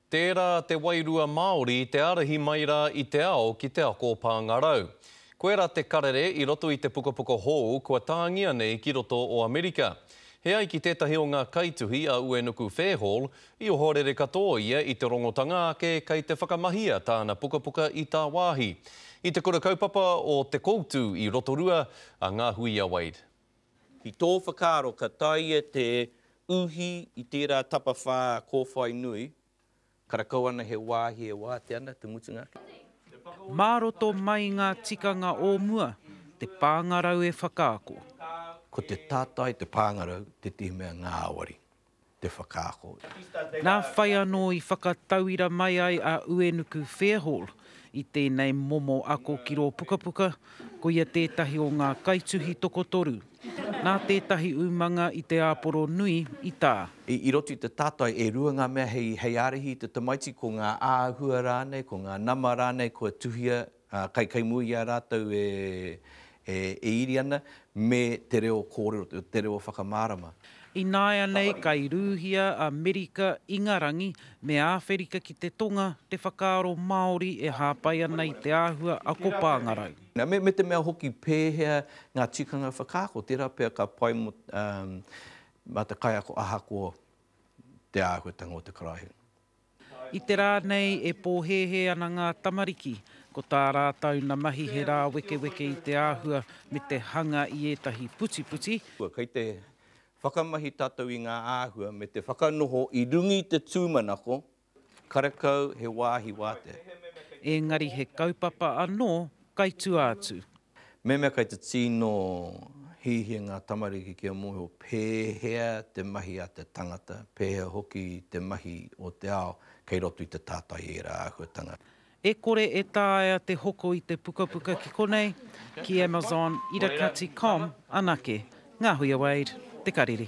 Tērā te wairua Māori te ārahi mai rā i te ao ki te ako o Pāngarau. Koe rā te karere i roto i te pukapuka hou kua tāngia nei ki roto o Amerika. He ai ki tētahi o ngā kaituhi a Uenuku Fairhall, i ohorere katoa ia i te rongotanga ake kei te whakamahia tāna pukapuka i tāwāhi. I te kura kaupapa o Te Koutu i Rotorua a Ngā Hui a Wade. Ki tō whakaaro ka taea te uhi i tērā tapawhā kōwhai nui, karakau ana he wāhi e wātea ana te mutunga ake? Mā roto mai ngā tikanga o mua, te pāngarau e whakaako. Ko te tātai te pāngarau tētehi mea ngāwari. te whakaako i. Nā whai anō i whakatauira mai ai a Uenuku Fairhall i tēnei momo ako ki rō pukapuka, koia tētahi o ngā kaituhi tokotoru. Nā tētahi umanga i te āporo nui i tā. I roto i te tātai, e rua ngā mea hei ārahi i te tamaiti, ko ngā āhua rānei, ko ngā nama rānei kua tuhia Ā, kai, kai mua i a rātou e, e, e iri ana, me te reo kōrero, te reo whakamārama. Ināianei kai rūhia a Merika, Ingarangi, me Āwherika ki te Tonga te whakaaro Māori e hāpai ana i te āhua ako pāngarau. Nā, me, me te mea hoki pēhea ngā tikanga whakaako, tērā pea ka pai mō, ā, mā te kaiako ahakoa te āhuatanga o te karaehe. I te rā nei e pōhēhē ana ngā tamariki, ko tā rātou na mahi he rāwekeweke i te āhua me te hanga i ētahi putiputi, Kei te whakamahi tātou i ngā āhua me te whakanoho i runga i te tūmanako, karekau he wāhi wātea. Engari he kaupapa anō kai tua atu. Mehemea kei te tino hiahia ngā tamariki kia mōhio pēhea te mahi a te tangata, pēhea hoki te mahi o te ao, kei roto i te tātai ērā āhuatanga. E kore e taea te hoko i te pukapuka ki konei, ki Amazon, irakati com anake. Ngā Huia Wade, Te Kariri.